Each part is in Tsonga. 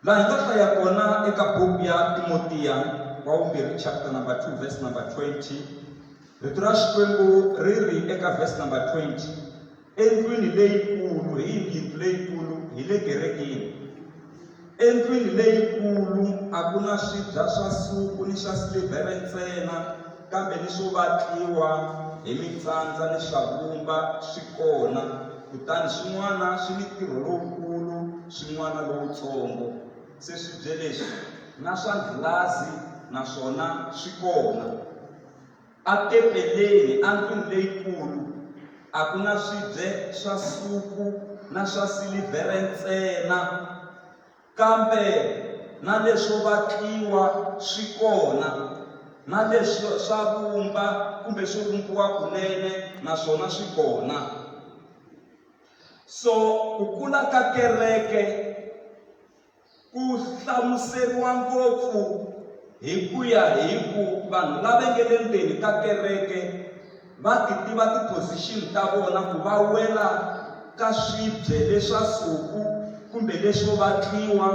laha hi nga hlaya kona eka buku ya timotiya wa vumbirhi chapter number 2 verse number 20 rito ra xikwembu ri ri eka verse number 20 endlwini leyikulu hi yindlu leyikulu hi le kerekeni endlwini leyikulu a ku na swibya swa suku ni swa silivhere ntsena kambe ni swo vatliwa hi mitsandza ni swavumba swi kona kutani swin'wana swi ni ntirho lowukulu swin'wana lowutsongo se swi bye leswi na swa ndlulazi naswona swi kona a tempeleni a ndlwini leyikulu a ku na swibye swa suku na swa silivhere ntsena Kambe na leswo vatliwa swi kona, na leswo swa vumba kumbe swo vumbiwa kunene na swona swi kona. So ku kula ka kereke ku hlamuseriwa ngopfu hi ku ya hi ku vanhu lava nge le ndzeni ka kereke Va ti tiva ti position ta vona ku va wela ka swibye leswa suku kumbe leswo vatliwa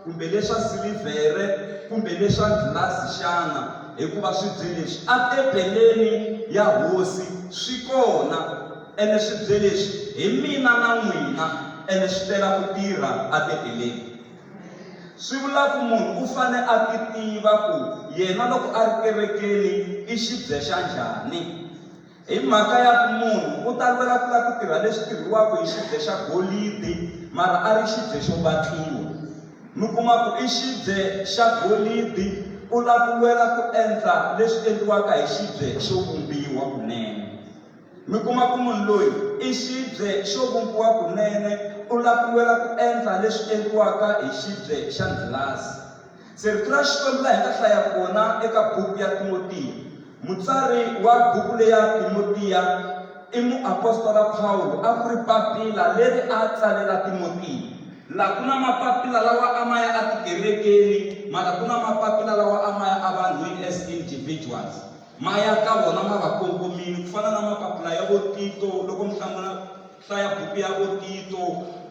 kumbe leswa silivhere kumbe leswa gilasi xana hikuva swibye leswi a tempeleni ya hosi swi kona ene swibye leswi hi mina na n'wina ene swi tela ku tirha a tempeleni swi vula ku munhu u fane a ti tiva ku yena loko a ri kerekeni i xibye xa njhani hi mhaka ya ku munhu u ta lwela ku la ku tirha leswi tirhiwaka hi xibye xa golidi mara a ri xibye xo vatliwa mi kuma ku i xibye xa golidi u la ku lwela ku endla leswi endliwaka hi xibye xo vumbiwa kunene Mi kuma ku munhu loyi i xibye xo vumbiwa kunene, u lapiwela ku endla leswi endliwaka hi xibye xa ndlhilasi. Se rito ra Xikwembu laha hi nga hlaya kona eka buku ya Timotiya, mutsari wa buku leya Timotiya i muapostola Pawulo, a ku ri papila leri a tsalela Timotiya. Laha ku na mapapila lawa a ma ya etikerekeni, mara ku na mapapila lawa a ma ya evanhwini as individuals. Ma ya ka vona ma va kongomile, ku fana na mapapula ya vo Tito, loko mi hlamula hlaya buku ya vo Tito,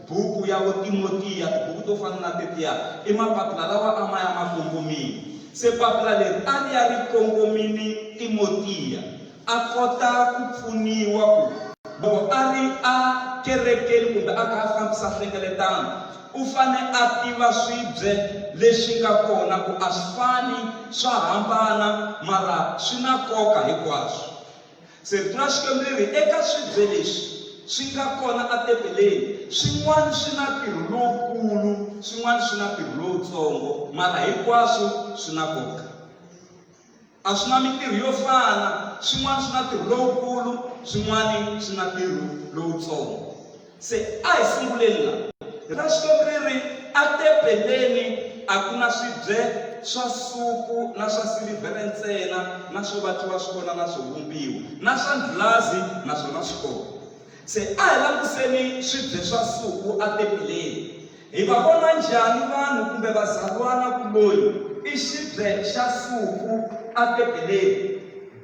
buku ya vo Timotiya, tibuku to fana na tetiya, i mapapula lawa a ma ya ma kongomile. Se papula leri a ri ya ri kongomile Timotiya a kota ku pfuniwa ku loko a ri a kerekeni kumbe a kha a fambisa nhlengeletano u fane a tiva swibye leswi nga kona ku a swi fani swa hambana mara swi na nkoka hinkwaswo. Se rito ra Xikwembu ri ri eka swibye leswi swi nga kona atempeleni swin'wana swi na ntirho lowukulu swin'wana swi na ntirho lowutsongo mara hinkwaswo swi na nkoka. A swi na mintirho yo fana, swin'wana swi na ntirho lowukulu, swin'wana swi na ntirho lowutsongo. Se a hi sunguleni la. Ra Xikwembu ri ri, Etempeleni a ku na swibye swa suku na swa silivhere ntsena, na swo vatliwa swi kona, na swo vumbiwa, na swa ndlulazi, naswona swi kona. Se a hi languseni swibye swa Suku atempeleni. Hi va vona njhani vanhu kumbe vazalwana ku loyi i xibye xa Suku atempeleni?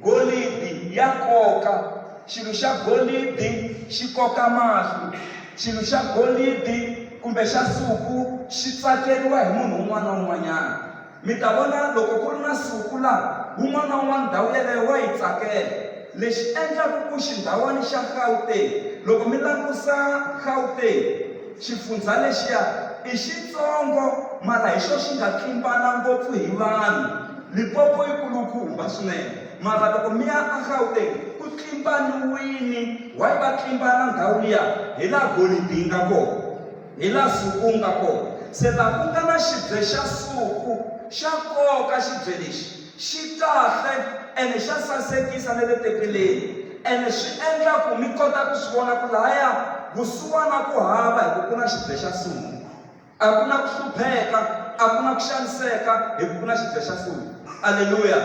Golidi ya koka. Xilo xa golidi xi koka mahlo. Xilo xa golidi kumbe xa Suku xi tsakeriwa hi munhu un'wana na un'wanyana. Mi ta vona loko ku ri na siku laha wun'wana na wun'wana ndhawu yeleyo wa yi tsakela. Lexi endlaka ku xindhawani xa Gauteng, loko mi langusa Gauteng, xifundzha lexiya i xitsongo mara hi xo xi nga tlimbana ngopfu hi vanhu. Limpopo yi kulukumba swinene mara loko mi ya a Gauteng ku tlimbaniwini. Why va tlimbana ndhawu liya? Hi laha golidi yi nga kona. Hi la Suku nga kona. Se la ku nga na xibye xa Suku, xa koka xibye lexi. Xi kahle ene xa sasekisa na le tempeleni, ene swi endla ku mi kota ku swi vona ku lahaya vusiwana ku hava hi ku ku na xibye xa Suku. A ku na ku hlupheka, a ku na ku xaniseka hi ku ku na xibye xa Suku. Aleluya!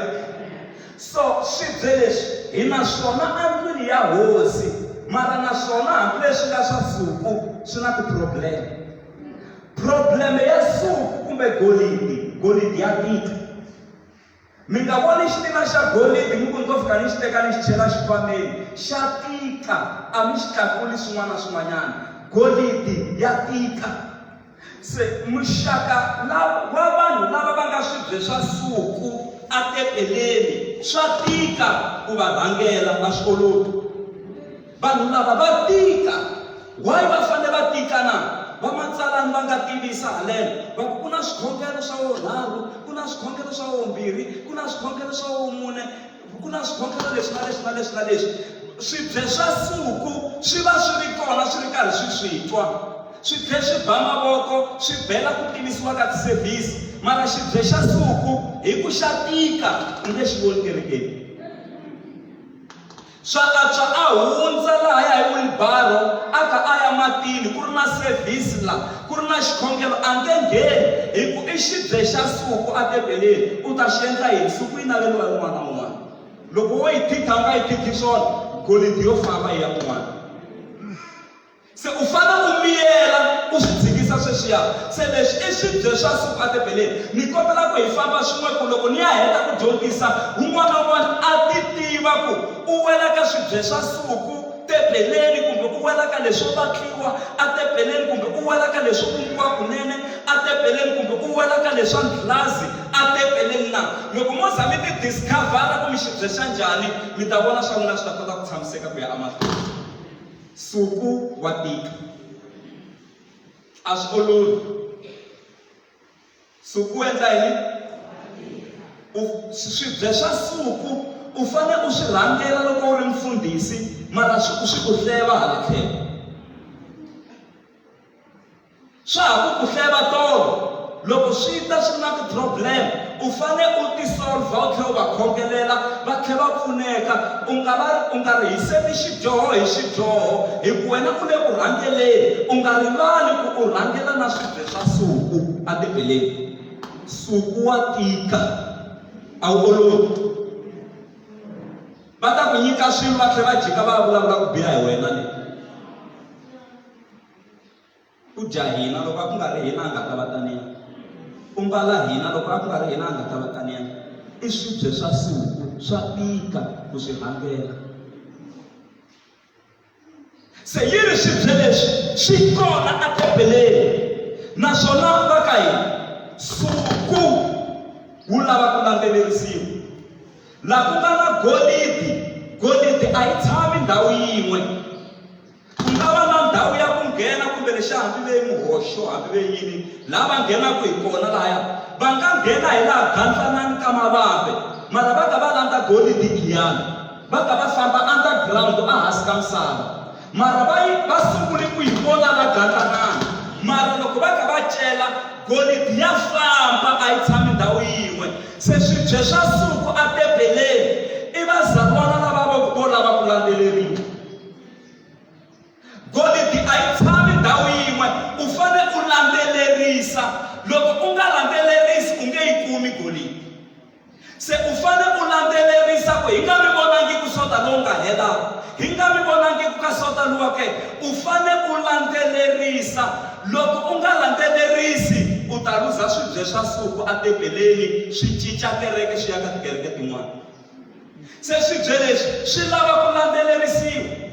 So, swibye leswi hi na swona endlwini ya hosi, mara na swona hambileswi nga swa suku swi na tiprobleme. Probleme ya suku kumbe golidi, golidi ya tika. Mi nga voni xitina xa golidi mi ku ni to fika ni xi teka ni xi chela xikhwameni, xa tika a mi xi tlakuli swin'wana na swin'wanyana, golidi ya tika. Se muxaka wa vanhu lava va nga swibye swa suku atepeleni swa tika ku va rhangela a swi olovi vanhu lava va tika why va fanele va tika na vamatsalani va nga tivisa haleno va ku na swikhongelo swa wo rharu ku na swikhongelo swa wombirhi ku na swikhongelo swa wo mune Ku na swikhongelo leswi na leswi na leswi na leswi. Swibye swa suku swi va swi ri kona swi ri karhi swi swi twa. Swibye swi ba mavoko swi bela ku pimisiwa ka tisevhisi. Mara xibye xa suku hi ku xa tika u nge xi voni kerekeni. Swa antswa a hundza lahaya hi wilibaro a kha a ya matini ku ri na sevhisi la Ku ri na xikhongelo a nge ngheni hi ku i xibye xa nsuku atebeleni. U ta xi endla yini? Nsuku yi naveriwa hi un'wana na un'wana. Loko wo yi didha u nga yi didhi swona, golidi yo famba yi ya kun'wana. Se u fanele u miyela u swi dzikisa sweswiya. Se leswi i swibye swa nsuku atebeleni. Ni kombela ku hi famba swin'we ku loko ni ya heta ku dyondzisa, un'wana na un'wana a ti tiva ku u wela ka swibye swa nsuku. Tebeleni kumbe u wela ka leswo vatliwa, a tebeleni kumbe u wela ka leswo vumbiwa kunene, a tebeleni kumbe u wela ka leswa ndlhazi, a tebeleni na. Loko mo za mi tidiscavhara ku mi xibyexa njhani, mi ta vona swa n'wina swi ta kota ku tshamiseka ku ya emahlweni. Nsuku wa tika. A swi olovi. Suku u endla yini? U swibye swa suku u fane u swi rhangela loko u ri mfundhisi mara swi ku swi ku hleva hala tlhelo. Swa ha ku ku hleva tolo loko swi ta swi na ti-problem u fane u ti-solve-a u tlhela u va khongelela va tlhela va pfuneka u nga va u nga rihiseli xidyoho hi xidyoho hi ku wena u le ku rhangeleni u nga rivali ku u rhangela na swibye. xa nsuku ebibeleni nsuku wa tika a wu olovi va ta ku nyika swilo va tlhela va jika va vulavula ku biha hi wena le ku dya hina loko a ku nga ri hina a nga ta va taniya ku mbala hina loko a ku nga ri hina a nga ta va taniya i swibye swa suku swa tika ku swi rhangela se yi ri swibye leswi swi kona etempeleni naswona va ka hina suku wu lava ku landzelerisiwa laha ku nga na golidi golidi a yi tshami ndhawu yin'we ku nga va na ndhawu ya ku nghena kumbe lexi hambi ve muhoxo hambi ve yini laha va nghenaka hi kona lahaya va nga nghena hi laha gandlanani ka mavambe mara va ka va landza golidi giyani Va ta va hlamba underground a hansi ka misava. Mara va yi va sungule ku yi vona va gandlanana. Mara loko va kha va cela, golidi ya hlamba a yi tshami ndhawu yin'we. Se swibye swa suku atebeleni i vazalwana lava vo ku vo lava ku landzeleriwa. Golidi a yi tshami ndhawu yin'we, u fane u landzelerisa. Loko u nga landzelerisi u nge yi kumi golidi. Se u fane u landzelerisa ku hi nga mi vonangi ku sota lowu nga hela, hi nga mi vonangi ku ka sota luwa ke. U fane u landzelerisa. Loko u nga landzelerisi, u ta luza swibye swa suku atempeleni, swi cinca kereke swi ya ka tikereke tin'wana. Se swibye leswi swi lava ku landzelerisiwa.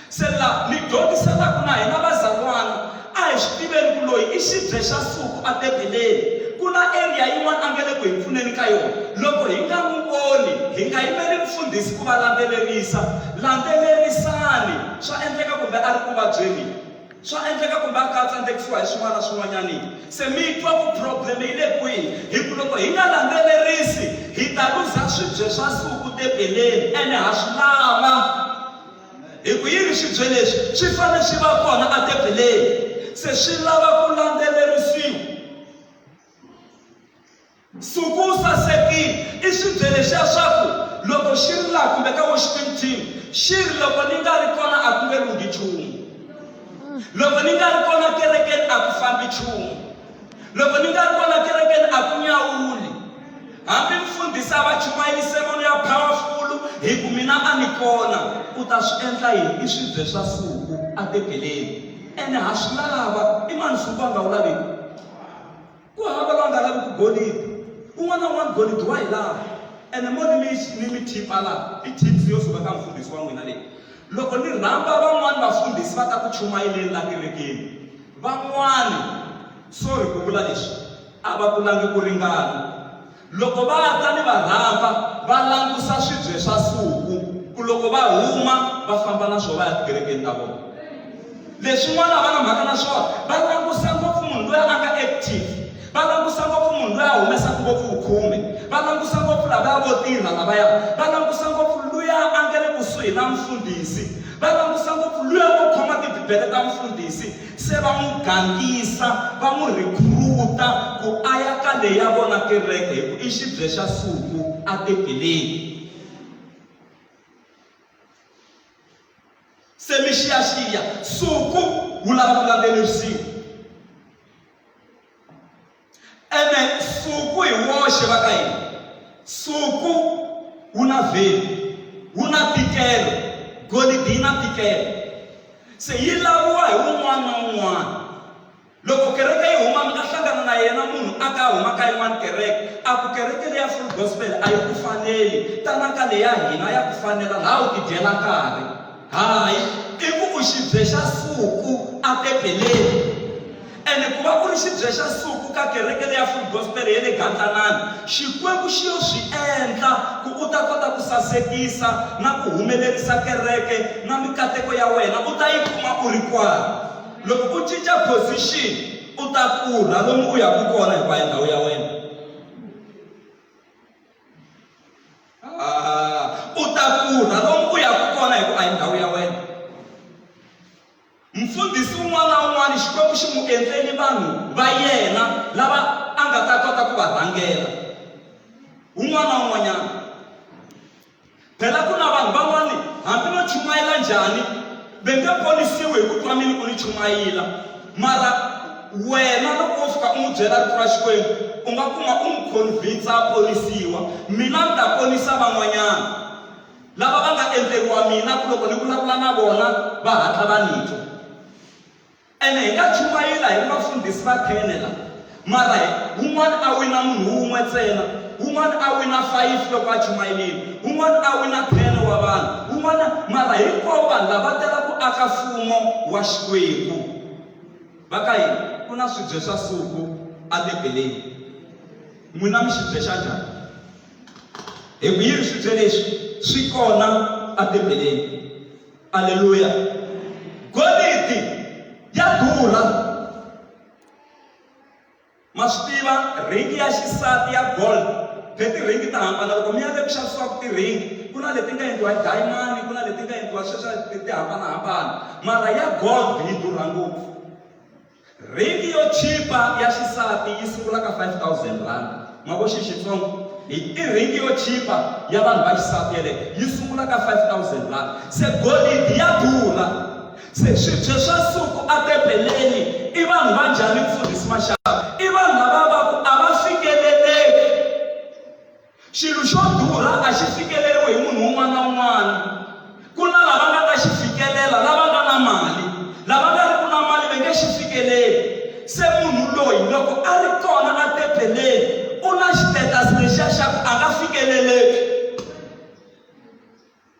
Se la mi dyondzisanaku na hina vazalwana, a hi swi tiveni ku loyi i xibye xa suku a Bebeleni. Ku na eriya yin'wana a nge le ku hi pfuneni ka yona. Loko hi nga n'wi voni, hi nga yimeli mufundhisi ku va landzelerisa. Landzelerisani. Swa endleka kumbe a ri ku vabyeni. Swa endleka kumbe a ka a tsandzekisiwa hi swin'wana na swin'wanyani. Se mi yi twa ku problem yi le kwihi. Hi ku loko hi nga landzelerisi, hi ta luza swibye swa suku Bebeleni, ene ha swi lava. Hi ku yini swibye leswi swi fanele swi va kona atempeleni? Se swi lava ku landzelerisiwa. Nsuku wu sasekile i swibye leswiya swa ku loko xi ri laha kumbe ka worshiping team xi ri loko ni nga ri kona a ku nge lunghi nchumu loko ni nga ri kona kerekeni a ku fambi nchumu loko ni nga ri kona kerekeni a ku nyawuli Hambi mfundhisi a va chumayise mano ya phawafulu, hi ku mina a ni kona, u ta swi endla yini? I swibye swa suku atempeleni, ene ha swi lava. I mani suku a nga wu laviki? Ku hava loyi a nga laviki golidi. Un'wana na un'wana golidi wa yi lava, ene mo ni mi ni mi thipha laha, i thipsi yo suka ka mfundhisi wa n'wina leyi. Loko ni rhamba van'wana vafundhisi va ta ku chumayeleni laha kerekeni, van'wana, sorry ku vula leswi, A va kulangi ku ringana. Loko va ta ni va rhamba, va langusa swibye swa suku, ku loko va huma va famba na swo va ya tikerekeni ta vona. Leswin'wana a va na mhaka na swona, va langusa ngopfu munhu loyi a nga active, va langusa ngopfu munhu loyi a humesaka ngopfu vukhume, va langusa ngopfu lavaya vo tirha lavaya, va langusa ngopfu luya a nga le kusuhi na mfundhisi, va langusa ngopfu luya o khoma tibibele ta mfundhisi. Se va n'wi gangisa, va n'wi rhikhuruta ku a ya ka leya vona kereke hi ku i xibye xa suku etempeleni. Se mi xiyaxiya, suku wu lava ku landzelerisiwa. ene nsuku hi woxe va ka yini nsuku wu na vheli wu na tikelo golidi yi na tikelo se yi laviwa hi wun'wana na wun'wana loko kereke yi huma mi nga hlangana na yena munhu a ka huma ka yin'wana kereke a ku kereke leya full gospel a yi ku faneli tanaka leya hina ya ku fanela laha u tidyela nkarhi Hayi, i ku u xibye xa suku aBebeleni. Ene ku va u ri xibye xa suku ka kereke leya Full Gospel ya le Gantanani, Xikwembu xi yo swi endla ku u ta kota ku sasekisa na ku humelerisa kereke na mikateko ya wena u ta yi kuma u ri kwala. Loko u cinca position, u ta pfurha lomu u yaka kona hikwalaho ndhawu ya wena. Ah, u ta pfuna lomu u yaka kona hikuva a hi ndhawu ya wena mfundhisi un'wana na un'wana xikwembu xi n'wi endleni vanhu va yena lava a nga ta kota ku va rhangela un'wana na un'wanyana Phela ku na vanhu van'wana hambi no chumayela njhani ve nge ponisiwi hi ku twa mini ku ni chumayela mara wena loko wo fika u n'wi byela rito ra xikwembu u nga kuma u n'wi convinsa a ponisiwa mina ni ta ponisa van'wanyana lava va nga endleriwa mina ku loko ni vulavula na vona va hatla va ni twa Ene hi nga chumayila hi ri vafundhisi va thene la, mara hi, wun'wana a wina munhu wun'we tsena, wun'wana a wina fayifi loko a chumayelile, wun'wana a wina thene wa vanhu, wun'wana, mara hinkwavo vanhu lava va tela ku aka Mfumo wa Xikwembu. Va ka yini? Ku na swibye swa suku eBibeleni. N'wina mi xi byexa njhani? Hi ku yini swibye leswi swi kona eBibeleni? Aleluya. Golidi ya durha. Ma swi tiva ringi ya xisati ya gold hi tiringi ta hambana loko mi ya le ku xavisiwaka tiringi ku na leti nga endliwa hi dayimani ku na leti nga endliwa sweswa ti hambanahambana mara ya gold yi durha ngopfu Ringi yo chipa ya xisati yi sungula ka 5000 rand. Mavo xi Xitsongo i i ringi yo chipa ya vanhu va xisati yaleyo yi sungula ka 5000 rand. Se golidi ya durha. Se swibye swa suku a tempeleni i vanhu va njhani mfundhisi Mashava? I vanhu lava va ku a va fikeleleki. Xilo xo durha a xi fikeleriwi hi munhu un'wana na un'wana. Ku na lava nga ta xi fikelela, lava nga na mali. Lava nga ri ku na mali va nge xi fikeleli. Se munhu loyi loko a ri kona a tebeleni u na xitetasi lexiya xa ku a nga fikeleleki.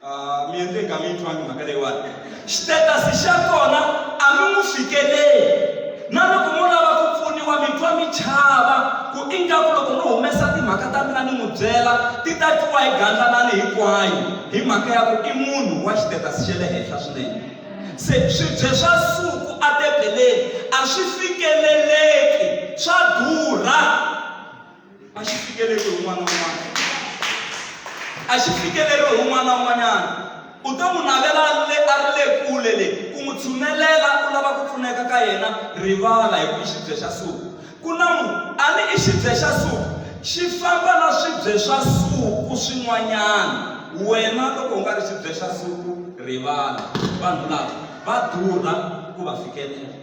Ah, mi endle ka mi yi twangi mhaka leyiwani xitetasi xa kona a mi n'wi fikeleli na loko mo lava ku pfuniwa mi twa mi chava ku ingaku loko no humesa timhaka ta mina ni n'wi byela ti ta twiwa hi gandlanani hinkwayo hi mhaka ya ku i munhu wa xitetasi xa le henhla swinene se swibye swa suku atebeleni a swi fikeleleki swa durha a xi fikeleriwi hi un'wana na un'wana a xi fikeleriwi hi un'wana na un'wanyana u to n'wi navela le a ri le kule le ku n'wi tshunelela u lava ku pfuneka ka yena rivala hi ku i xibye xa suku ku na mu a ni i xibye xa suku xi famba na swibye swa suku swin'wanyana wena loko u nga ri xibye xa suku rivala vanhu lava va durha ku va fikelela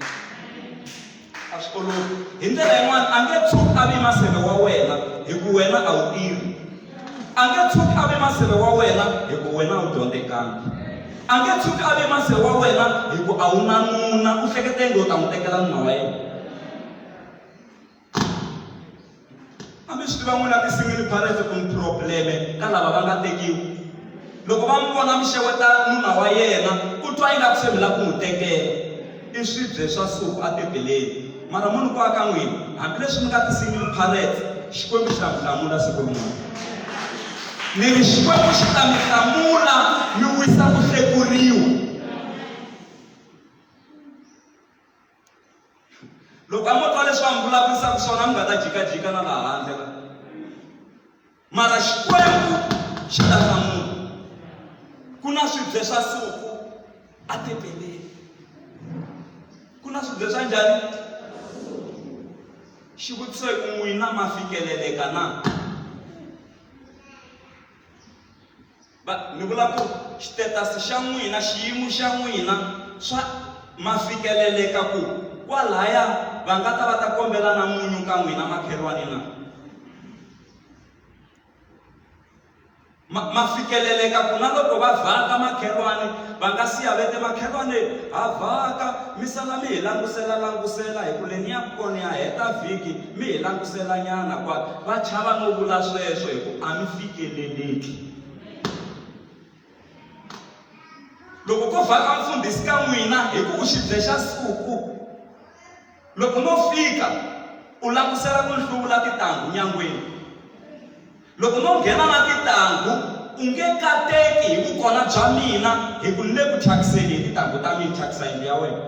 a swi olovi hi ndlela yin'wana a nge tshuki a vi maseve wa wena hi ku wena a wu tirhi a nge tshuki a vi maseve wa wena hi ku wena a wu dyondzekanga a nge tshuki a vi maseve wa wena hi ku a wu na nuna u hlekete ngo u ta n'wi tekela nuna wa yena A mi swi tiva n'wina ti-single parents ku ni probleme ka lava va nga tekiwi loko va n'wi vona mi xeweta nuna wa yena ku twa ingaku se mi lava ku n'wi tekela i swibye swa suku etebeleni mara munhu ku aka n'wina hambileswi mi nga ti-single parents xikwembu xa mi hlamula siku rin'wana ni ri xikwembu xi ta mi hlamula mi wisa ku hlekuriwa loko a mo twa leswi va mi vulavurisaka swona mi nga ta jikajika na laha handle la mara xikwembu xi lahla munhu ku na swibye swa suku a tepeleni ku na swibye swa njhani xivutiso hi ku n'wina ma fikeleleka na Va, ni vula ku xitetasi xa n'wina, xiyimo xa n'wina swa ma fikeleleka ku kwalaya va nga ta va ta kombela na munyu ka n'wina makhelwani na? Ma, ma fikeleleka ku na loko va vhaka makhelwani va nga siya vete makhelwani ha vhaka mi sala mi hi langusela langusela hi ku le ni ya kona ya heta vhiki Mi hi languselanyana kwala. Va chava no vula sweswo hi ku a mi fikeleleki. Loko ko vhaka mfundhisi ka n'wina hi ku u xibye xa suku, loko no fika u langutisela ku ni hluvula titanghu nyangweni. Loko no nghena na titanghu u nge kateki hi vukona bya mina hi ku ni le ku thyakiseni hi titanghu ta mina, thyakisa yindlu ya wena.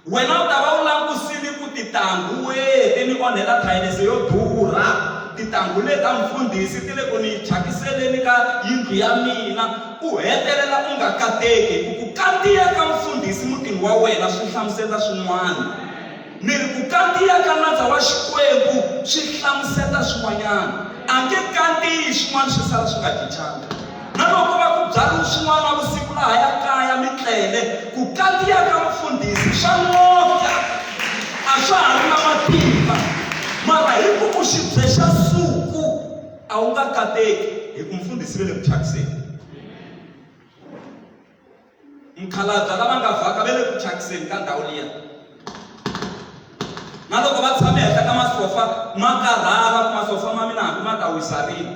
Wena u ta va u langutisile ku titanghu wihi ti ni onhela thayeleso yo durha? Titanghu leti ta mfundhisi ti le ku ni thyakisele-ni ka yindlu ya mina. U hetelela u nga kateki hi ku ku kandziya ka mfundhisi mutini wa wena swi hlamuseta swin'wana. Ni ri ku kandziya ka nandza wa Xikwembu swi hlamuseta swin'wanyana. A nge kandziyi swin'wana swi sala swi nga cincanga. Na loko va ku byalini swin'wana na vusiku laha ya kaya mi tlele, ku kandziya ka mufundhisi swa n'okya. A swa ha ri na matimba. Mara hi ku vuxibye xa suku a wu nga kateki hi ku mufundhisi ve le ku thyakiseni. Mukhalabya lava nga vhaka ve le ku thyakiseni ka ndhawu liya. Na loko va tshame henhla ka masofa ma karhala ku masofa ma mina hambi ma ta wisa rini.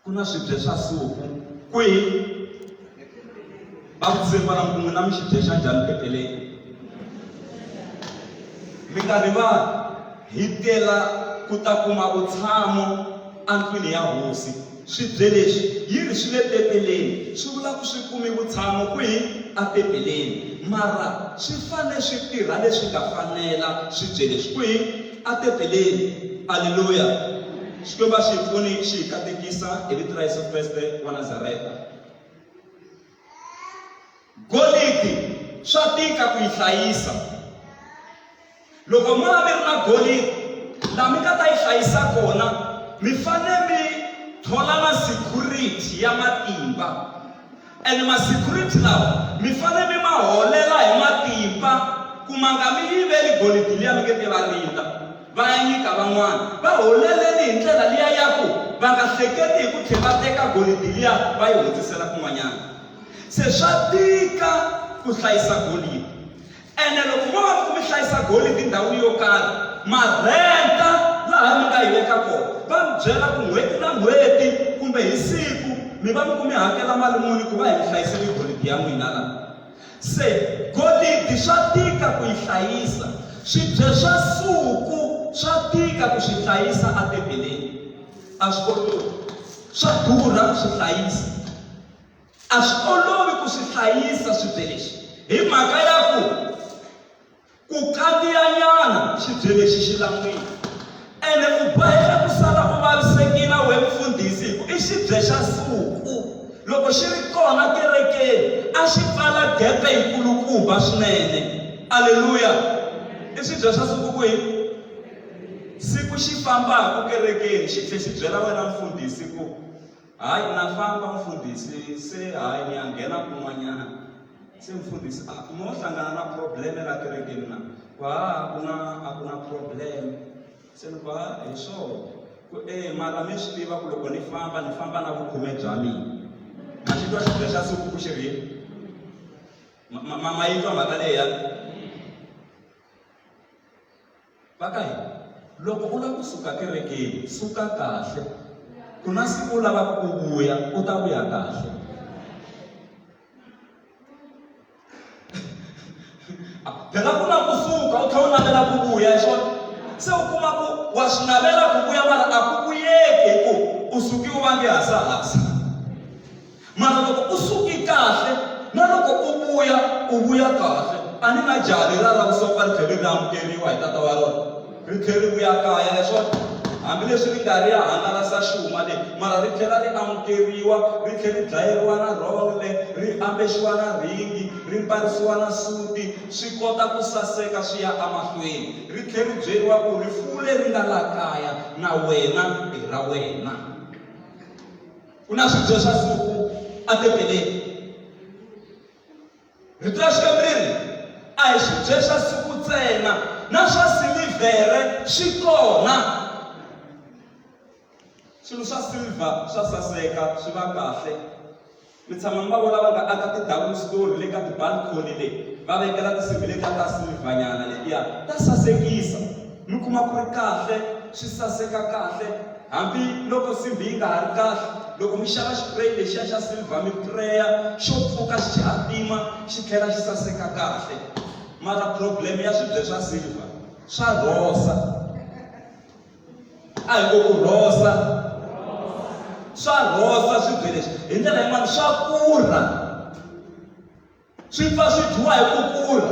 ku na swibye swa suku kwihi va vutise kwala kun'we na mi xibye xa njhani peteleni mi nga rivali hi tela ku ta kuma vutshamo endlwini ya hosi swibye leswi yi ri swi le peteleni swi vula ku swi kumi vutshamo kwihi apeteleni mara swi fanele swi tirha leswi nga fanela swibye leswi kwihi a tempeleni. Aleluya! Xikwembu a xi hi pfuni xi hi katekisa hi vito ra Yesu Kreste wa Nazareta. Golidi swa tika ku yi hlayisa. Loko mo va mi ri na golidi laha mi nga ta yi hlayisa kona mi fanele mi thola na security ya matimba. And ma security lawa mi fane mi ma holela hi matimpa ku ma nga mi yiveli golidi liya mi nge te va rindza va ya nyika van'wana. Va holeleni hi ndlela liya ya ku va nga hleketi hi ku tlhe va teka golidi liya va yi hundzisela kun'wanyana. Se swa tika ku hlayisa golidi. Ene loko mo va mi ku mi hlayisa golidi ndhawu yo karhi, ma rhenta laha mi nga yi veka kona. Va mi byela ku n'hweti na n'hweti kumbe hi siku mi va mi ku mi hakela mali muni ku va hi mi hlayisele golidi ya n'wina laha. Se golidi swa tika ku yi hlayisa, swibye swa suku swa tika ku swi hlayisa etebeleni, a swi olovi, swa durha ku swi hlayisa. A swi olovi ku swi hlayisa swibye leswi hi mhaka ya ku ku kandziyanyana xibye lexi xi lan'wini ene u boheka ku sala u vavisekile we mfundhisi hi ku i xibye xa suku loko xi ri kona kerekeni a xi pfala gepe yikulukumba swinene aleluya i swibye swa suku ku hi siku xi fambaka kerekeni xi tlhe xi byela wena mfundhisi ku Hayi na famba mfundhisi se hayi ni ya nghena kun'wanyana se mfundhisi a ah, mo hlangana na probleme la kerekeni na ku ha ah, ku na a ku na probleme se ni ku ha ah, hi swona ku e mara mi swi tiva ku loko ni famba ni famba na vukhume bya mina ma xi twa xidya xa siku ku xi ri ma yi twa mhaka leyi ya va ka hina loko u lava ku suka kerekeni suka kahle ku na siku u lavaka ku vuya u ta vuya kahle phela ku na ku suka u tlhela u navela ku vuya hi swona se u kuma ku wa swi navela ku vuya mara a ku vuyeki hi ku u suki u va nge hasahasa mara loko u suke kahle na loko u vuya u vuya kahle a ni na jaha leri a lava ku songa ri tlhela ri amukeriwa hi tata wa rona ri tlhela ri vuya kaya leswaku hambileswi ri nga ri ya hangalasa xuma leyi mara ri tlhela ri amukeriwa ri tlhela ri dlayeriwa na rhongle ri ambexiwa na rhingi ri mbarisiwa na suti swi kota ku saseka swi ya emahlweni ri tlhela ri byeriwa ku rifuwo leri nga la kaya na wena i ra wena ku na swidyo swa siku atempeleni rito ra xikwembu ri ri a hi swidyo swa siku ntsena na swa silivhere swi kona swilo swa silver swa saseka swi va kahle mi tshama mi va vona va nga aka ti-double story le ka tibalcony le va vekela tinsimbhi letiya ta silivhanyana letiya ta sasekisa mi kuma ku ri kahle swi saseka kahle Hambi loko nsimbhi yi nga ha ri kahle, loko mi xava xipureyi lexiya xa silver mi pureya xo pfuka xi hatima xi tlhela xi saseka kahle mara problem ya swibye swa silver swa rhosa a hi ku ku rhosa swa rhosa swibye leswi hi ndlela yin'wana swa kurha Swi pfa swi dyiwa hi ku kula.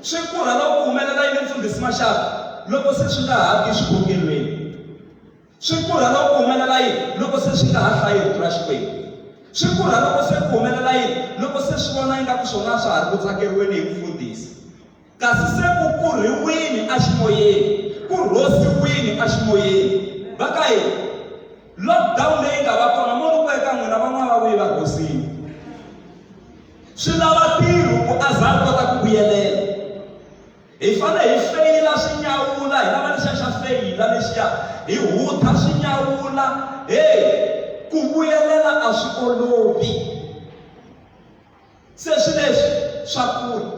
Swi kurha loko ku humelela yini Mfundhisi Maxaka? Loko se swi nga ha ti xikhongelweni. Swi kurha loko ku humelela yini? Loko se swi nga ha hlayi rito ra Xikwembu. Swi kurha loko se ku humelela yini? Loko se swi vona ingaku swona a swa ha ri ku tsakeriweni hi mfundhisi. kasi se ku kurhiwini aximoyeni, ku rhosiwini aximoyeni. Va ka yini? Lockdown leyi nga va kona mo ni ku eka n'wina van'wana va vuye va rhosini. Swi lava ntirho ku a za a kota ku vuyelela. Hi fane hi feyila swinyawula hi lava lexiya xa feyila lexiya hi hutha swinyawula hey ku vuyelela a swi olovi. se swi leswi swa kula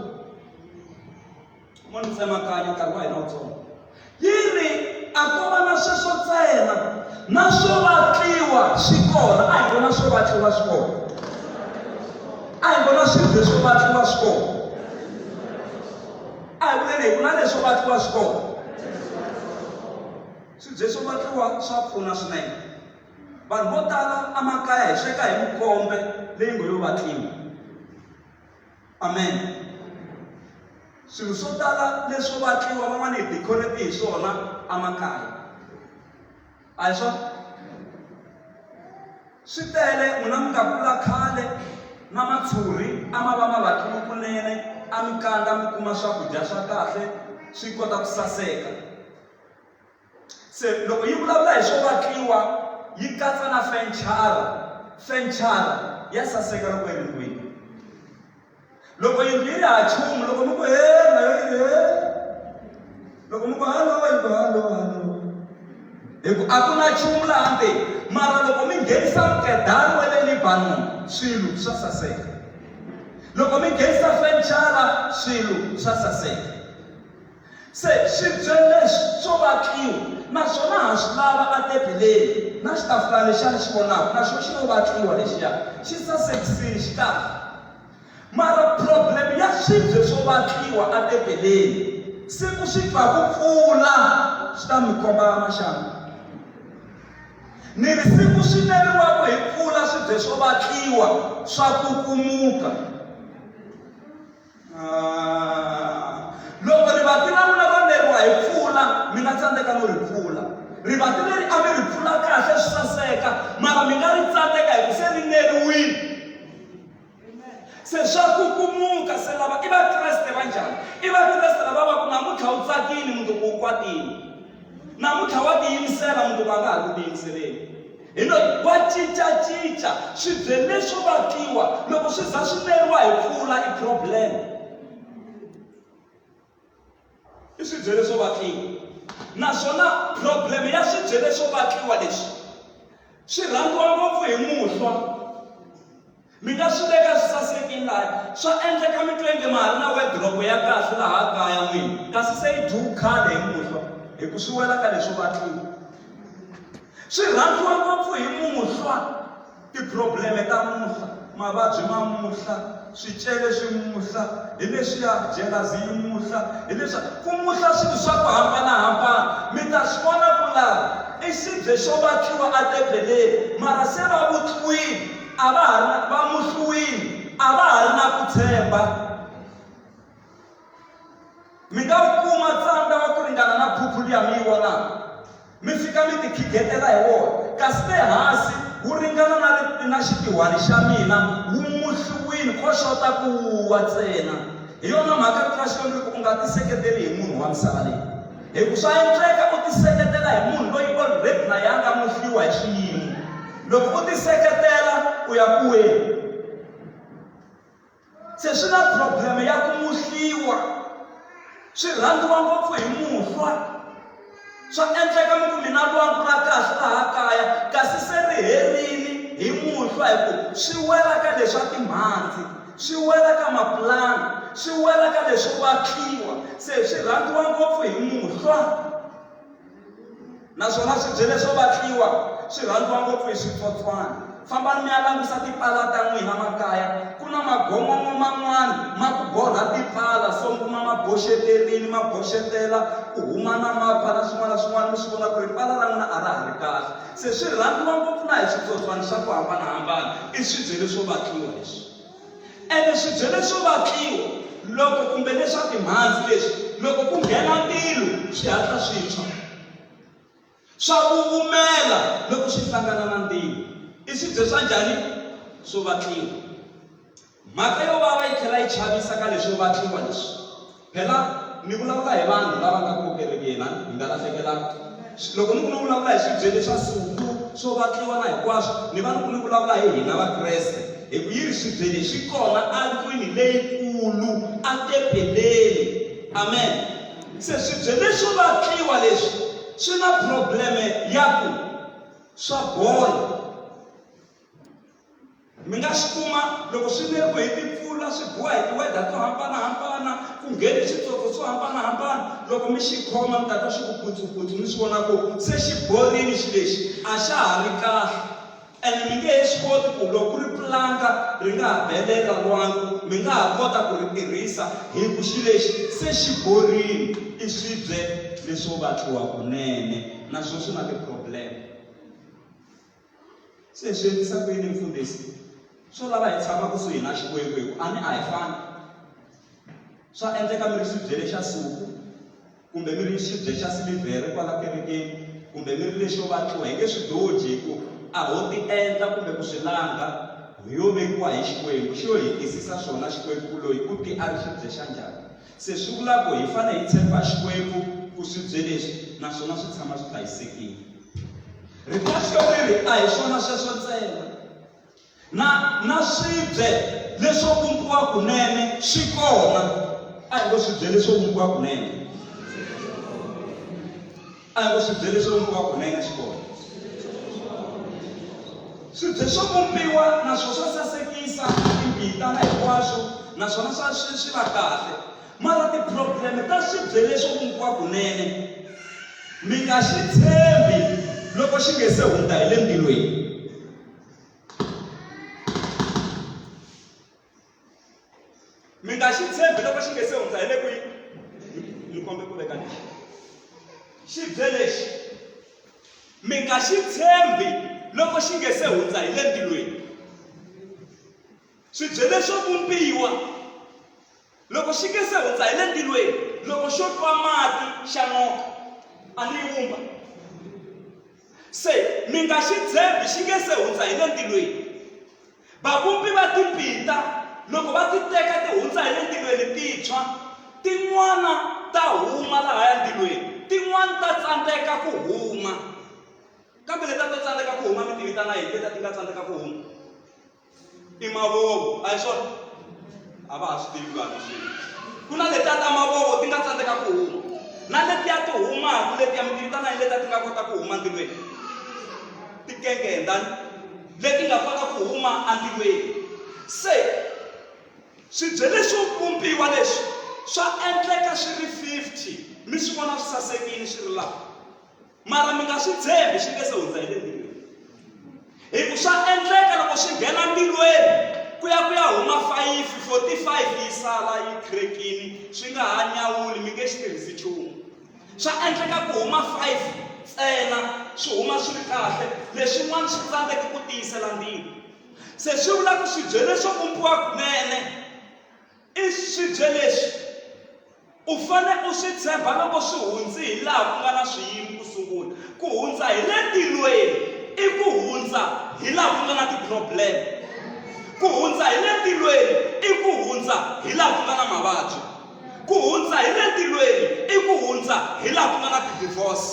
mo ni tsemakanya nkarhi wa hina wutsongo yi ri a ko va na sweswo ntsena na swo vatliwa swi kona a hi vona swo vatliwa swi kona a hi vona swilo leswo vatliwa swi kona a hi vuleni hi ku na leswo vatliwa swi kona swibye swo vatliwa swa pfuna swinene Vanhu vo tala emakaya hi sweka hi mikombe leyi ngo yo vatlimi. Amen. Swilo swo tala leswo vatliwa van'wana hi decorate hi swona emakaya. A hi swona? Swi tele n'wina mi nga kula khale na matshuri a ma va ma vatliwe kunene a mi kandza mi kuma swakudya swa kahle swi kota ku saseka. se loko yi vulavula hi swo vatliwa yi katsa na fenchara fenchara ya saseka loko yi ri ndlwini loko yindlu yi ri ha chumu loko mi ku he na yo yi he loko mi ku halo yi ku halo halo hi ku a ku na chumu laha nte mara loko mi nghenisa mukedani wa le libanon swilo swa saseka loko mi nghenisa fenchara swilo swa saseka Se swibyeni leswi swo vatliwa na swona ha swi lava atebeleni, na xitafula lexiya ni xi vonaka na xona xi lo vatliwa lexiya, xi sasekisile, xi kahle. Mara problem ya swibye swo vatliwa atebeleni, siku swi twa ku pfula swi ta mi komba maxangu. Ni ri siku swi neriwaka hi pfula swibye swo vatliwa swa kukumuka. Ah, loko rivati ra n'wina ro neriwa hi pfula mi nga tsandzeka no ri pfula rivati leri a mi ri pfula kahle swi saseka mara mi nga ri tsandzeka hi ku se ri neriwile se swa kukumuka se lava i vakreste va njhani i vakreste lava va ku namuntlha wu tsakile mundzuku wu kwatile namuntlha wa tiyimisela mundzuku a nga ha ku tiyimiseleni Hi lo, Wa cinca-cinca. Swibyele swo vakiwa loko swi za swi neriwa hi mpfula i problem. I swibyele swo vakiwa. Naswona problem ya swibyele swo vakiwa leswi, swi rhandziwa ngopfu hi muhlwa. Mi nga swi veka swi sasekile laha. Swa endleka mi twenge ma ha ri na wediropo ya kahle laha kaya n'wini, kasi se yi dyiwe khale hi muhlwa hi ku swi wela ka leswo vatliwa. Swi rhandziwa ngopfu hi muhlwa, tiphurobleme ta muhlwa, mavabyi ma muhlwa, swicele swi muhlwa, hi leswiya jelazi yi muhlwa, hi leswiya. Ku muhlwa swilo swa ku hambanahambana. Mi ta swi vona ku laha i xibye xo vatliwa etebeleni, mara se va vutliwile. a va ha ri na va muhluwini a va ha ri na ku tshemba mi nga wu kuma tsandza wa ku ringana na phuphu liya mi yi vonaka mi fika mi tikhidletela hi wona kasi le hansi wu ringana na na xitihwani xa mina wu muhluwini ko xota ku wuwa ntsena hi yona mhaka rito ra xikwembu ri ku u nga tiseketeli hi munhu wa misava leyi Hi ku swa endleka u tiseketela hi munhu loyi already na yena a nga muhliwa hi xiyimo. Loko u tiseketela u ya ku weni? Se swi na problem ya ku muhliwa swi rhandziwa ngopfu hi muhlwa swa endleka mi ku mina lwangu ra kahle laha kaya kasi se ri herile hi muhlwa hi ku swi wela ka leswa timhandzi swi wela ka mapulanga swi wela ka leswo vatliwa se swi rhandziwa ngopfu hi muhlwa naswona swibye leswo vatliwa swi rhandziwa ngopfu hi switsotswana fambani mi ya langusa tipala ta n'wina makaya ku na magongongo man'wana ma ku borha tipala so mi kuma ma boxeterini ma boxetela ku huma na mapfa na swin'wana na swin'wana mi swi vona ku ri pala ra n'wina a ra ha ri kahle Se swi rhandziwa ngopfu na hi switsotswani swa ku hambana-hambana i swibyele swo vatliwa leswi. Ene swibyele swo vatliwa loko kumbe leswa timhandzi leswi loko ku nghena ntilu swi hatla swi tshwa. Swa vuvumela loko swi hlangana na ntilu. I swibye swa njhani? Swo vatliwa. Mhaka yo vava yi tlhela yi chavisa ka leswo va tlumba leswi. Phela ni vulavula hi vanhu lava nga kona kerekeni, a hi nga lahlekelanga. Loko ni ku ni vulavula hi swibyele swa Suku, swo vatliwa na hinkwaswo, ni va ni ku ni vulavula hi hina Vakreste. Hi ku yi ri swibyele swi kona endlwini leyikulu, etempeleni. Amen. Se swibyele swo vatliwa leswi swi na probleme ya ku swa bola. mi nga swi kuma loko swi neriwe hi timpfula swi biwa hi tiweda to hambanahambana ku ngheni switsotso swo hambanahambana loko mi xi khoma mi tata xi ku putsuputsu mi swi vona ku se xi borini xi lexi a xa ha ri kahle ene mi nge he swi koti ku loko ku ri pulanga ri nga ha belela lwangu mi nga ha kota ku ri tirhisa hi ku xi lexi se xi borini i swibye leswo vatliwa kunene naswona swi na ti-problem se hi swi endlisa ku yini mfundhisi swo lava hi tshama kusuhi na xikwembu hi ku a ni a hi fani swa endleka mi ri xibyele xa suku kumbe mi ri xibye xa silivhere kwala kerekeni kumbe mi ri lexo vatliwa hi nge swi doji hi ku a ho ti endla kumbe ku swi langa yo vekiwa hi xikwembu xi yo hi twisisa swona xikwembu ku loyi u ti a ri xibye xa njhani Se swi vula ku hi fanele hi tshemba Xikwembu ku swibye leswi naswona swi tshama swi hlayisekile. Riphaxo ri ri a hi swona sweswo ntsena, na na swibye leswo vumbiwa kunene swi kona. A hi ngo swibye leswo vumbiwa kunene. A hi ku swi bye leswi lomu ka kona yi nga xi kona swi bye swo vumbiwa naswona swa sasekisa timbita na hinkwaswo naswona swa swi swi va kahle mara ti-problem ta swi bye leswo vumbiwa kunene mi nga xi tshembi loko xi nge se hundza hi le ndzilweni mi nga xi tshembi loko xi nge se hundza hi le kwihi ni kombe ku veka lexi xi bye lexi mi nga xi tshembi loko xi nge se hundza hi le ntilweni swi bye leswo vumbiwa loko xi nge se hundza hi le ntilweni loko xo twa mati xa noka a ni yi vumba se mi nga xi tshembi xi nge se hundza hi le ntilweni Vavumbi va timpinta loko va ti teka ti hundza hi le ndzilweni ti tshwa, tin'wana ta huma lahaya ndzilweni, tin'wana ta tsandzeka ku huma. Kambe leta to tsandzeka ku huma mi ti vitana yini leta ti nga tsandzeka ku huma? I mavovo, a hi swona? A va ha swi tivi vanhu swilo. Ku na letiya ta mavovo ti nga tsandzeka ku huma, na letiya ti humaka letiya mi ti vitana yini letiya ti nga kota ku huma ndzilweni? Ti kengenda. leti nga fana ku huma andiweni. Se, swibye leswo vumbiwa leswi swa endleka swi ri 50 mi swi vona swi sasekile swi ri laha mara mi nga swi tshembi swi nge se hundza hi le ndirweni hi ku swa endleka loko swi nghena ndirweni ku ya ku ya huma 5 45 yi sala yi khrekini swi nga ha nyawuli mi nge xi tirhisi nchumu Swa endleka ku huma five ntsena swi huma swi ri kahle, leswin'wana swi tsandzeke ku tiyisela ndzilo. Se swi vula ku swibye leswo vumbiwa kunene i swibye leswi u fane u swi tshemba loko swi hundzi hi laha ku nga na swiyimo ku sungula. Ku hundza hi le ntilweni i ku hundza hi laha ku nga na ti-problem. Ku hundza hi le ntilweni i ku hundza hi laha ku nga na mavabyi. Ku hundza hi le ntilweni i ku hundza hi laha ku nga na tidivhosi.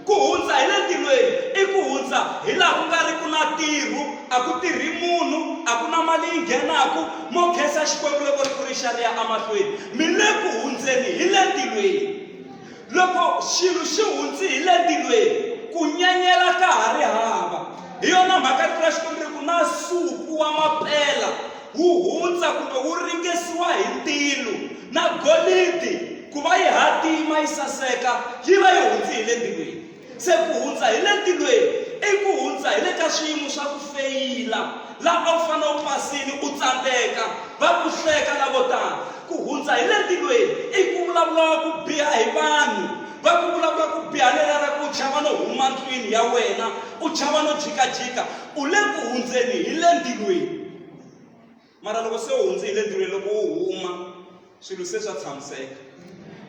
Ku hundza hi le ntilweni i ku hundza hi laha ku nga ri ku na tirhu, a ku tirhi munhu, a ku na mali yi nghenaku, mo khensa Xikwembu loko ri ku ri xa ri ya emahlweni. Mi le ku hundzeni hi le ntilweni. Loko xilo xi hundzi hi le ntilweni, ku nyanyela ka ha ri hava. Hi yona mhaka rito ra Xikwembu ri ku, Na nsuku wa mapela wu hundza kumbe wu ringesiwa hi ntilu, na golidi ku va yi hatima yi saseka, yi va yi hundzi hi le ntilweni. Se ku hundza hi le ntilweni i ku hundza hi le ka swiyimo swa ku feyila. Laha a wu fanele u pasile, u tsandzeka, va ku hleka lavo tala. Ku hundza hi le ntilweni i ku vulavuriwa ku biha hi vanhu, va ku vulavula ku biha lelera ku u chava no huma ndlwini ya wena, u chava no jikajika. U le ku hundzeni hi le ntilweni. mara loko se u hundze hi le ntirhweni loko u huma swilo se swa tshamiseka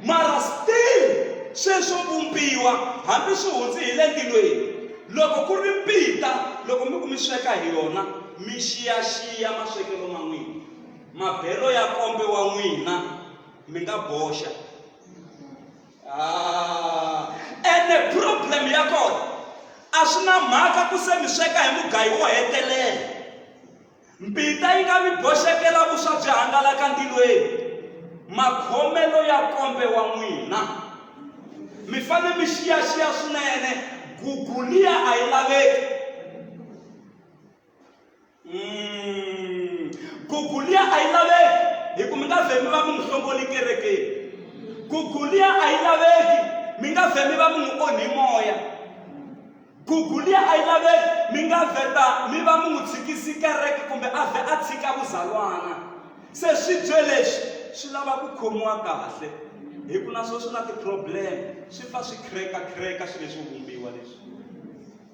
mara still sweswo vumbiwa hambi swi hundze hi le ntilweni loko ku ri mpita loko mi ku mi sweka hi yona mi xiyaxiya maswekelo ma n'wina mabelo ya kombe wa n'wina mi nga boxa ah, ene problem ya kona a swi na mhaka ku se mi sweka hi mugayi wo hetelela Mbita yi nga mi boxekela vuswa byi hangalaka ntilweni. Makhomelo ya kombe wa n'wina. Mi fanele mi xiyaxiya swinene gugu liya a yi laveki. Mm. Gugu liya a yi laveki hi ku mi nga vhe mi va mi n'wi hlongoli kerekeni. Gugu liya a yi laveki mi nga vhe mi va mi n'wi onhi moya. Gugulia a yi laveki mi nga vheta mi va mi n'wi tshikisi kereke kumbe a vhe a tshika vuzalwana se swibye leswi swi lava ku khomiwa kahle hi ku na swo swi na ti-problem swi fa swi khireka khireka swi leswi vumbiwa leswi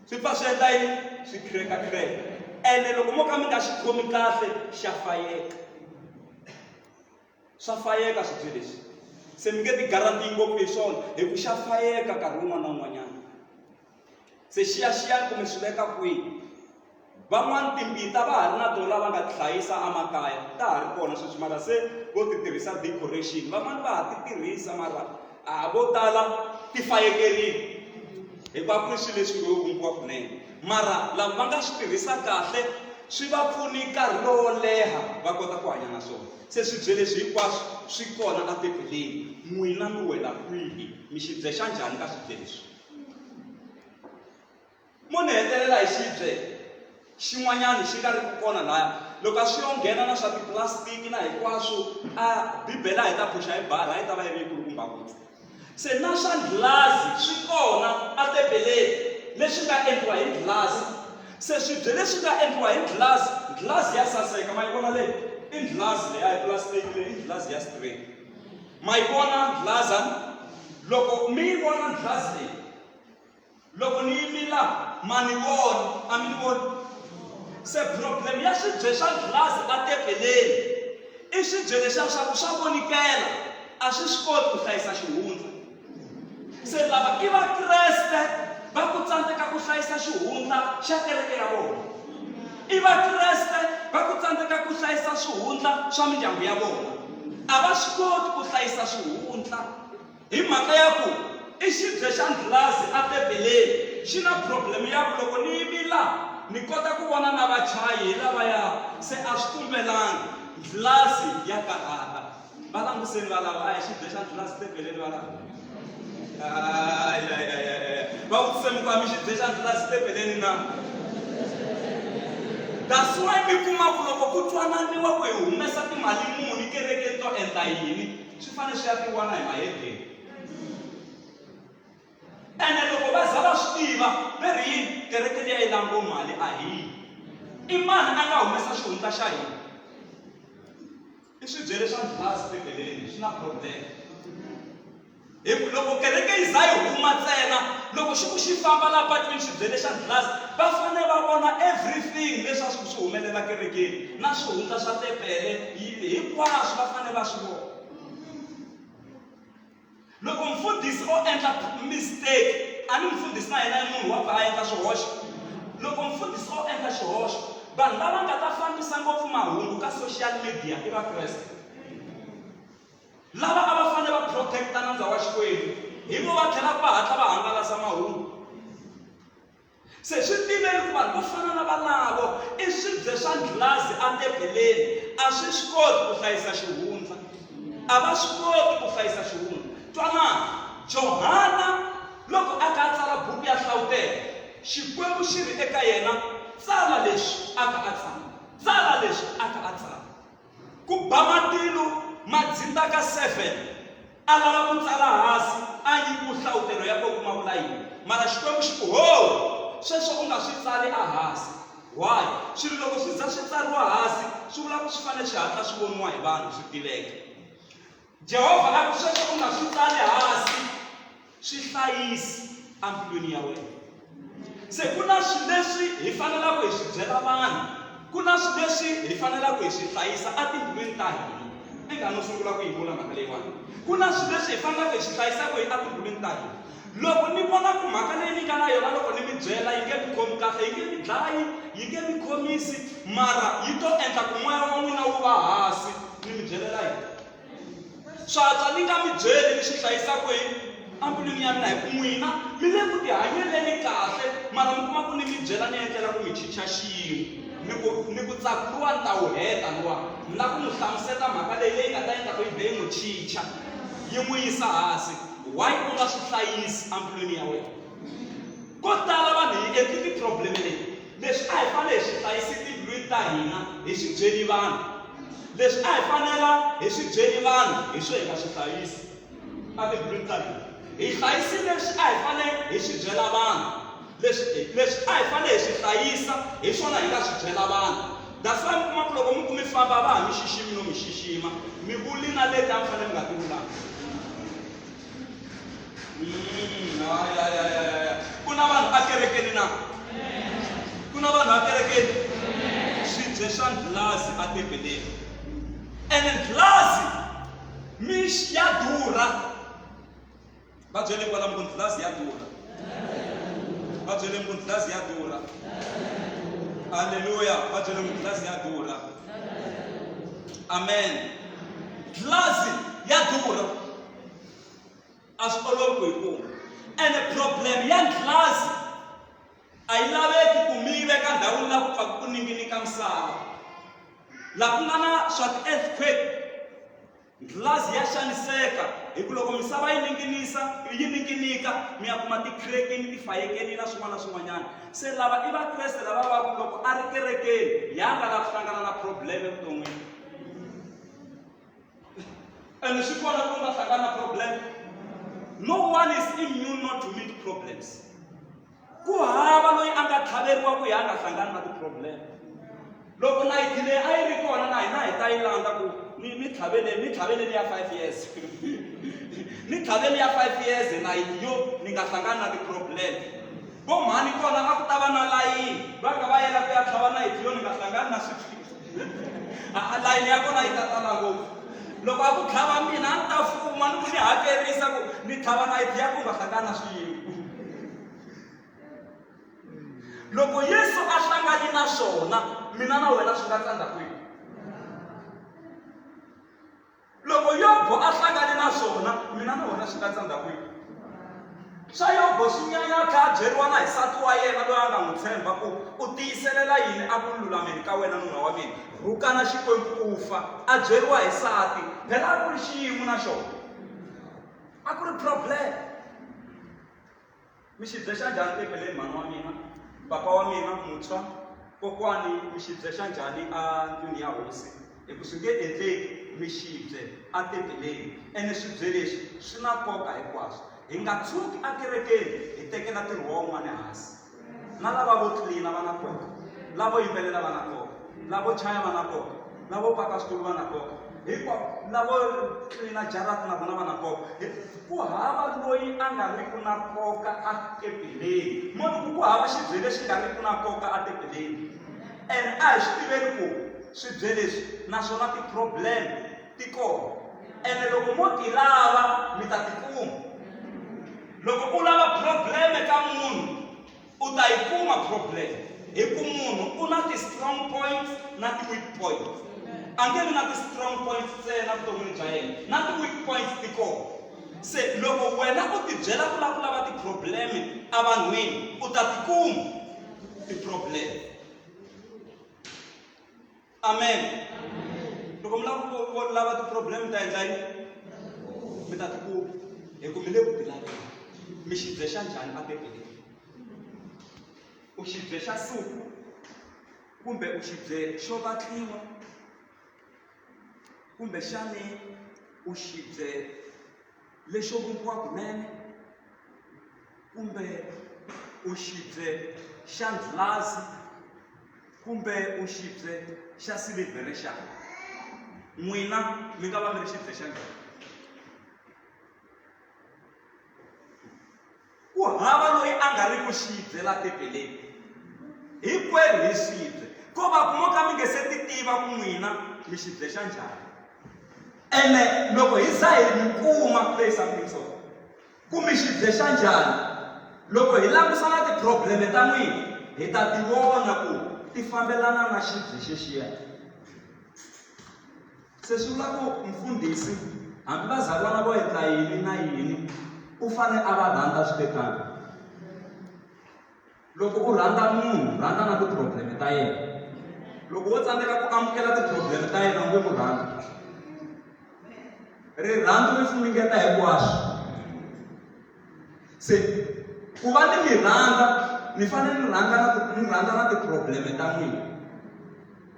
swi fa swi endla yini swi khireka khireka ene loko mo ka mi nga xi khomi kahle xa fayeka swa fayeka swibye leswi se mi nge ti garantiyi ngopfu hi swona hi ku xa fayeka nkarhi wun'wana na wun'wanyana se xiyaxiyani kumbe swi veka kwihi van'wani timbita va ha ri na tona va nga ti hlayisa emakaya ta ha ri kona sweswi mara se vo ti tirhisa decoration van'wani va ha ti tirhisa mara a vo tala ti fayekerile hikuva ku ri swilo leswi ngo vumbiwa kunene mara lava va nga swi tirhisa kahle swi va pfuni nkarhi lowo leha va kota ku hanya na swona Se swibye leswi hinkwaswo swi kona a Bibeleni. N'wina mi wela kwihi? Mi xi byexa njhani ka swibye leswi? Mo ni hetelela hi xibye xin'wanyana xi nga ri ku kona laya loko a swi yo nghena na swa tipulasitiki na hinkwaswo a Bibele a hi ta phuxa hi bara a yi ta va yi ri yi kulukumba ngopfu. Se na swa nghilazi swi kona, matebeleni, leswi nga endliwa hi nghilazi. Se swibye leswi nga endliwa hi nghilazi, nghilazi ya saseka, ma yi vona leyi? I nghilazi leyi, a hi pulasitiki leyi, i nghilazi ya straight. Ma yi vona nghilazi? Loko mi yi vona nghilazi leyi, loko ni yimi laha ma ni vona a mi ni vona se problem ya swibye swa glass etepeleni i swibye leswiya swa ku swa vonikela a swi swi koti ku hlayisa xihundla se lava i vakreste va ku tsandzeka ku hlayisa xihundla xa kereke ya vona i vakreste va ku tsandzeka ku hlayisa swihundla swa mindyangu ya vona a va swi koti ku hlayisa swihundla Hi mhaka ya ku i xibye xa ndlhulazi a tebeleni, xi na problem ya ku loko ni yimi la ni kota ku vona na vachayi hi lavaya se a swi kumbelangi. Ndlhulazi ya karhata. Va languseni valava, a hi xibye xa ndlhulazi tebeleni valava? Ayayayaya. Va vutise muka mi xibye xa ndlhulazi tebeleni na? That's why mi kuma ku loko ku twananiwa ku hi humesa timali muni kerekeni to endla yini, swi fanele swi ya tiwana hi mahedeni ene loko va za va swi tiva ve ri yini kereke leyi a yi lango mali a hi yini i mani a nga humesa xihundla xa hina i swibyele swa ndlhasi bibeleni swi na problem hi ku loko kereke yi za yi huma ntsena loko xi ku xi famba la patwini swibyele xa ndlhasi va fanele va vona everything leswi a swi ku swi humelela kerekeni na swihundla swa tepele yini hinkwaswo va fanele va swi vona loko mfundhisi o endla mistake a ni mfundhisi na yena munhu wa pfa a endla swihoxo loko mfundhisi o endla xihoxo vanhu lava nga ta fambisa ngopfu mahungu ka social media i vakreste lava a va fanele va protecta nandza wa xikwembu hi vo va tlhelaka va hatla va hangalasa mahungu Se swi tiveni ku vanhu vo fana na valavo i swibye swa ndlhazi etebeleni. A swi swi koti ku hlayisa xihundla. A va swi koti ku hlayisa xihundla. Twanani, Johana loko a ka a tsala buku ya Nhlavutelo, Xikwembu xi ri eka yena, Tsala leswi a ka a tsala. Tsala leswi a ka a tsala. Ku ba matilu ma dzindza ka seven a lava ku tsala hasi a nyi ku hlawutelo ya ko ku ma vula yini mara Xikwembu xi ku hoo sweswo u nga swi tsali a hasi why swilo loko swi za swi tsariwa hasi swi vula ku swi fanele swi hatla swi voniwa hi vanhu swi tiveka. Jehovha a ku, Sweswo u nga swi tsali hansi, swi hlayisi embilwini ya wena. Se ku na swilo leswi hi fanelaka hi swi byela vanhu, ku na swilo leswi hi fanelaka hi swi hlayisa etimbilwini ta hina. Inga no sungula ku yi vula mhaka leyiwani. Ku na swilo leswi hi fanelaka hi swi hlayisa kwihi etimbilwini ta hina? Loko ni vona ku mhaka leyi ni nga na yona loko ni mi byela yi nge mi khomi kahle, yi nge mi dlayi, yi nge mi khomisi, mara yi to endla ku moya wa n'wina wu va hansi, ni mi byelela yini? Swa antswa ni nga mi byeli, ni swi hlayisa kwihi? Embilwini ya mina, hi ku n'wina mi le ku tihanyeleni kahle, mara mi kuma ku ni mi byela ni endlela ku mi chicha xiyimo. Ni ku ni ku ntsaku luwa ni ta wu heta luwa, ni lava ku n'wi hlamusela mhaka leyi leyi nga ta endla ku yi vhe yi n'wi chicha, yi n'wi yisa hansi. why u nga swi hlayisi embilwini ya wena ko tala vanhu hi endli ti-problem leti leswi a hi fanele hi swi hlayisi timbilwini ta hina hi swi byeli vanhu leswi a hi fanela hi swi byeli vanhu hi swo hi nga swi hlayisi a timbilwini ta hina hi hlayisi leswi a hi fanele hi swi byela vanhu Leswi i leswi a hi fanele hi swi hlayisa, hi swona hi nga swi byela vanhu. That's why mi kuma ku loko mi ku mi famba a va ha mi xiximi no mi xixima. Mi vuli na leti a mi fanele mi nga ti vulanga. Mm, ya, ya, ya, ya, ya, ya. Ku na vanhu ekerekeni na? Ku na vanhu ekerekeni? Swibye swa ndlulazi etempeleni. Ene ndlulazi mi ya durha. va byele kwalamu ku ndlulazi ya durha va byele ku ndlulazi ya durha aleluya va byele ku ndlulazi ya durha amen ndlulazi ya durha a swi olovi ku yi kuma and problem ya ndlulazi a yi laveki ku mi yi veka ndhawini la ku pfaka ku ninginika misava laha ku nga na swa ti-earthquake Ghilazi ya xaniseka hi ku loko misava yi ninginisa yi ninginika mi ya kuma tikhirekeni tifayekeni na swin'wana na swin'wanyana se lava i vakreste lava va ku loko a ri kerekeni ya nga lava ku hlangana na problem evuton'wini and swi kona ku nga hlangana na problem no one is immune not to meet problems ku hava loyi a nga tlhaveriwa ku ya a nga hlangani na ti-problem loko nayiti leyi a yi ri kona na hina hi ta yi landza ku ni ni tlhaveleni ni tlhaveleni ya five years ni tlhaveli ya five years nayiti yo ni nga hlangani na ti-problem vo mhani kona a ku ta va na layini va ka va yela ku ya tlhava nayiti yo ni nga hlangani na swiphiqo layini ya kona yi ta tala ngopfu loko a ku tlhava mina a ni ta fuma ni ku ni hakerisa ku ni tlhava nayiti ya ku nga hlangana swiyimo loko yesu a hlangani na swona mina na wena swi nga tsandza kwihi loko yobo a hlangane na swona mina na wena swi nga tsandza kwihi swa yobo swi nyanya a tlhela a byeriwa na hi sati wa yena loyi a nga n'wi tshemba ku u tiyiselela yini a ku lulameni ka wena nuna wa mina rhukana xikwembu u fa a byeriwa hi sati phela a ku ri xiyimo na xona a ku ri problem Mi xi dzexa njhani tempeleni mhani wa mina, papa wa mina muntshwa? Kokwani mi xi dzexa njhani a ndlwini ya hosi? Hi ku swi nge endleki mi xi bye atempeleni. Ene swibye leswi swi na nkoka hinkwaswo. Hi nga tshuki ekerekeni hi tekela ntirho wa un'wana hansi. Na lava vo tlilina va na nkoka, lavo yimbelela va na nkoka, lavo chaya va na nkoka. lavo paka switulu va na nkoka hinkwavo lavo tlilina jarata na vona va na nkoka ku hava loyi a nga ri ku na nkoka a tebeleni moni ku ku hava xibye lexi nga ri ku na nkoka a tebeleni and a hi swi tiveli ku swibye leswi naswona ti-problem ti kona ene loko mo ti lava mi ta tikuma loko u lava probleme ka munhu u ta yi kuma problem hi ku munhu u na ti-strong points na ti-weak points a nge vi na ti-strong points ntsena vuton'wini bya yena na ti-weak points ti kona se loko wena u tibyela ku lava ku lava ti-problem evanhwini u ta tikuma ti-problem amen loko mi lava ku ku lava ti-problem mi ta endla yini mi ta tikuma hi ku mi le ku bilaveni mi xi bye xa njhani a bebeleni u xi bye xa suku kumbe u xi bye xo vatliwa kumbe xani u xi bye lexo vumbiwa kunene kumbe u xibye xa ndlulazi kumbe u xibye xa silivhere xana n'wina mi nga va mi ri xibye xa njhani Ku hava loyi a nga ri ku xi bye la Tempeleni. Hinkwerhu hi swi bye, ko va ku mo ka mi nge se ti tiva ku n'wina mi xi bye xa njhani. Ene loko hi za hi mi kuma, play something so, ku mi xi bye xa njhani, loko hi langusa na tiphurobleme ta n'wina, hi ta ti vona ku ti fambelana na xi bye xexiya. Se swi vula ku mfundhisi hambi vazalwana vo endla yini na yini u fane a va rhandza swi te tano loko u rhandza munhu rhandza na ti-problem ta yena loko wo tsandzeka ku amukela ti-problem ta yena u nge mu rhandza rirhandzu ri funingeta hinkwaswo se ku va ni mi rhandza mi fanele ni rhandza na ni rhandza na ti-problem ta n'wina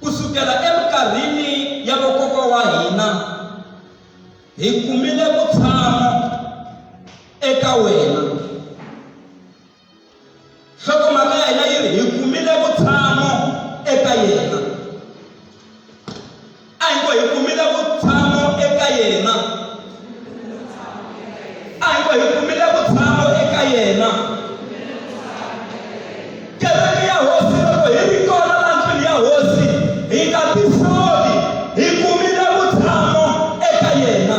Ku sukela eminkarhini ya vakokwa wa hina, hi kumile vutshamo eka wena. Nhlokomhaka ya hina yi ri hi kumile vutshamo eka yena. a hi ngo hi kumile vutshamo eka yena a hi ngo hi kumile vutshamo eka yena kereke ya hosi loko hi ri kona la ndlwini ya hosi hi nga tisoli hi kumile vutshamo eka yena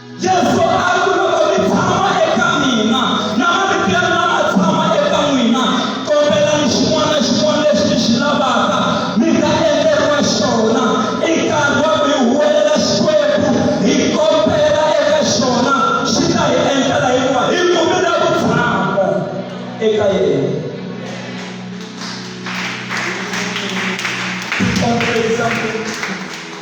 yesu a ku loko mi tshama eka mina na marito ya mina ma tshama eka n'wina kombelani xin'wana na xin'wana lexi mi xi lavaka mi ta endleriwa xona i nkarhi wa ku hi huwelela xikwembu hi kombela eka xona xi ta hi endlela hikuva hi kumile vutshamo eka yena Please, please, please.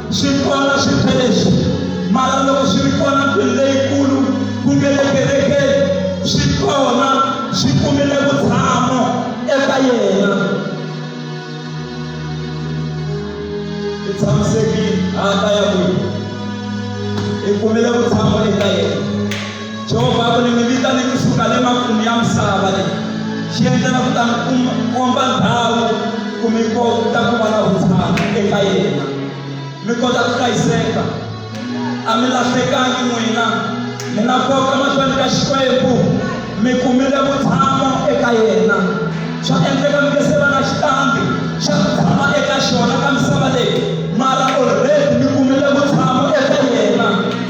swi kona swintshwa leswi mara loko swi ri kona ndlwini leyikulu ku nge le kerekeni swi kona swi kumile vutshamo eka yena i tshamiseki hata ya n'wina i kumile vutshamo eka yena Jehovha ku ni mi vitane kusuka le makumu ya misava leyi xi endlela ku ta mi komba ndhawu ku mi kota ku va na vutshamo eka yena mi kota ku hlayiseka a mi lahlekangi n'wina mi nga koka mahlweni ka xikwembu mi kumile vutshamo eka yena swa endleka mi nge se va na xitambi xa ku tshama eka xona ka misava leyi mara already mi kumile vutshamo